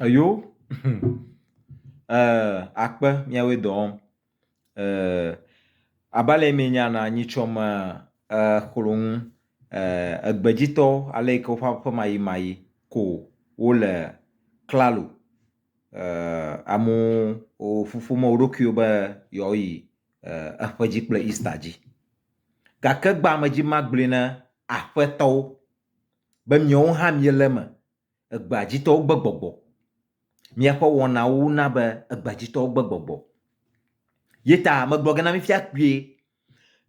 Eyo akpe miawoe dɔ wɔm abe ale mienya nɔ nyitsɔ me xlɔ nu egbedzitɔ ale yike woƒe aƒemaɣimaɣi ko wole klalo. Amewo woƒu ƒom nɔ wo ɖokuiwo be yewoa yi eƒe dzi kple Easter dzi. Gake gbea me dzi magblɔe na aƒetɔwo. be miawo hã miele eme. Egbea dzitɔwo gbe gbɔgbɔ. Miaƒe wɔnawo na be egbea dzitɔwo gbe gbɔgbɔ. Ye ta megblɔ ge na mi fiakpuie,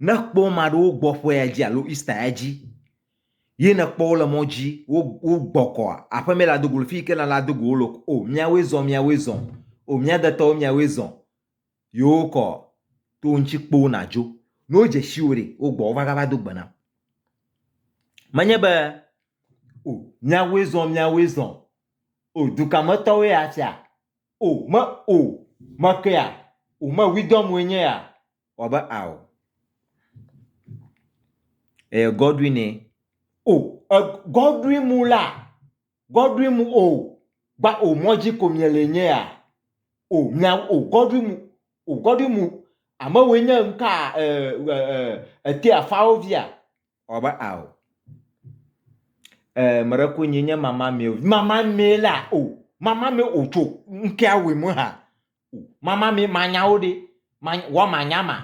ne kpɔ ame aɖewo gbɔ ƒe ya dzi alo Ista ya dzi ye nèkpɔ wo le mɔ dzi wogbɔ kɔ aƒe mee le ado go le fi yi ke nèle ado go wo le o, miawoe zɔ, miawoe zɔ, o mía detɔwo, miawoe zɔ. Yewo kɔ to ŋtsi kpoo na djo. Ne wo dze shiwo ɖe, wo gbɔ wo va ga va do gbe nam. Me nye be o mia woe zɔn mia woe zɔn o duka me tɔwoe ya tsia o me o me ke ya o me widɔm woe nye ya wa be ao eye Godwine o e Godwin Muller Godwin o gba o mɔdzi ko miele nyea o mia o Godwin o Godwin o amewoe nye ŋka e e e ete afawo via o ba a o e mre ko nyi nye mama mi o mama mi la o mama mi o tso ŋkea we mo ha o mama mi manyawo de ma wa manyama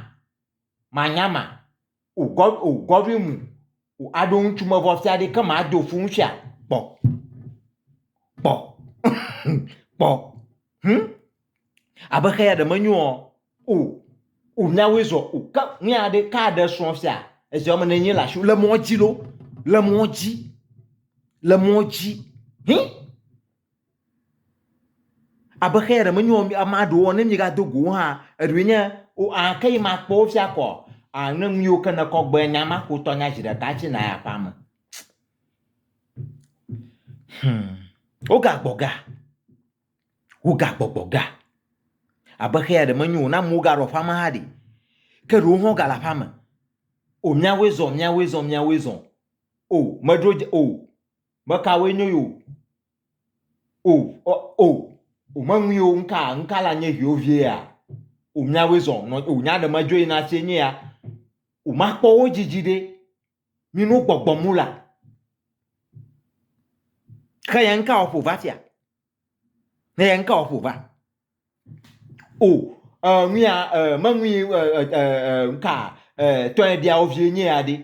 manyama ugɔvi mu aɖo ŋutsu me vɔ fia ɖe ke ma do fu ŋutsua kpɔ kpɔ kpɔ hum abe xe ya ɖe menyo ɔ o o miawoe zɔ o ke nu ya ɖe ka ɖe srɔ̃ fia ezi wɔme ne nye le asi le mɔ dzi lo le mɔ dzi le mɔ dzi hin. Abe xeya ɖe menyo amea ɖewo ne míegado go wo hã, eɖewoe nye, O aa ke yi makpɔ wo fia kɔ? Aa ne nu yiwo ke nèkɔ gbɔe nya ma ko tɔ nya zi ɖeka hafi nàyi aƒea me. Hum. Wogagbɔ ga, wogagbɔgbɔ ga. Abe xeya ɖe menyo ne amewo gaɖo aƒea me hã ɖi. Ke ɖewo hã wogale aƒea me. O míawoe zɔ, míawoe zɔ, míawoe zɔ. O meɖo dze o Be kawoe nyo yo? O, o, o, o meŋui o, ŋka, ŋka la nye viwo vie ya. O miawoe zɔ, nɔ, o nya ɖe medzo yina sie nye ya. O makpɔ wo dzidzi ɖe, mi no gbɔgbɔ mu la. Xe yɛ ŋka o ƒo va tia? Xe yɛ ŋka o ƒo va? O e ŋuia e meŋui e e e e ŋka e tɔe ɖia wo vie nye ya ɖe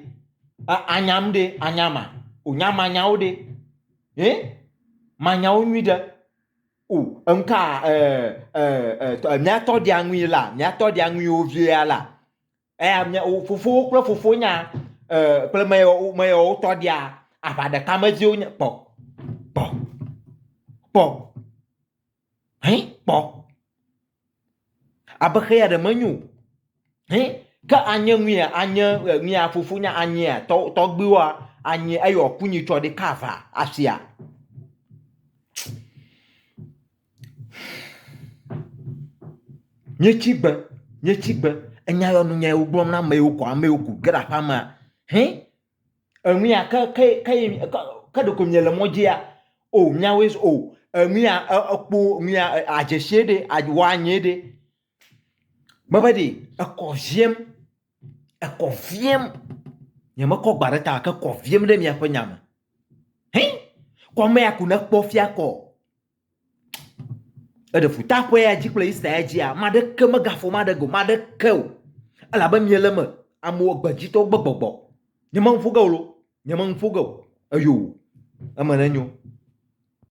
e anyam ɖe anyama o nyamanyawo ɖe he manyawo nyui ɖe o eŋka e e e mia tɔ ɖia ŋui la mia tɔ ɖia ŋui wo vie ya la eya mia o fofowo kple fofonya e kple me yawo me yawo tɔ ɖia aʋa ɖeka me vie wonye kpɔ kpɔ kpɔ. Hẽ kpɔ. Abe xeya ɖe menyo o. Hẽ ke anye nuyea anye nuyea fofo nye anyea tɔ tɔgbuiwoa anye eye wòaku nyi tsɔ ɖi ka ava asia. Nye tsi gbe, nye tsi gbe. Enya yɔ nunyae wogblɔm na amewo kɔ amewo ku ge ɖe aƒea mea. Hẽ Enuya ke ke ke ye ke ke ɖeko miele mɔ dzia o miawoe zu o enuya e ekpo nuya e adzesie ɖe ad woanyɛ ɖe. Mebe ɖi ekɔ viem ekɔ viem nyemekɔ gba ɖe ta o gake ekɔ viem ɖe miaƒe nya me. Hĩ! Kɔ amea ko nekpɔ fia kɔ Eɖe fu ta ƒe ya dzi kple Israel dzia, ame aɖeke megafɔ ame aɖeke, ame aɖeke o, elabe miele eme, amewo gbedzitɔ gbe gbɔgbɔ. Nyemenu ƒo ge o lo, nyemenu ƒo ge o, eyo eme nenyo.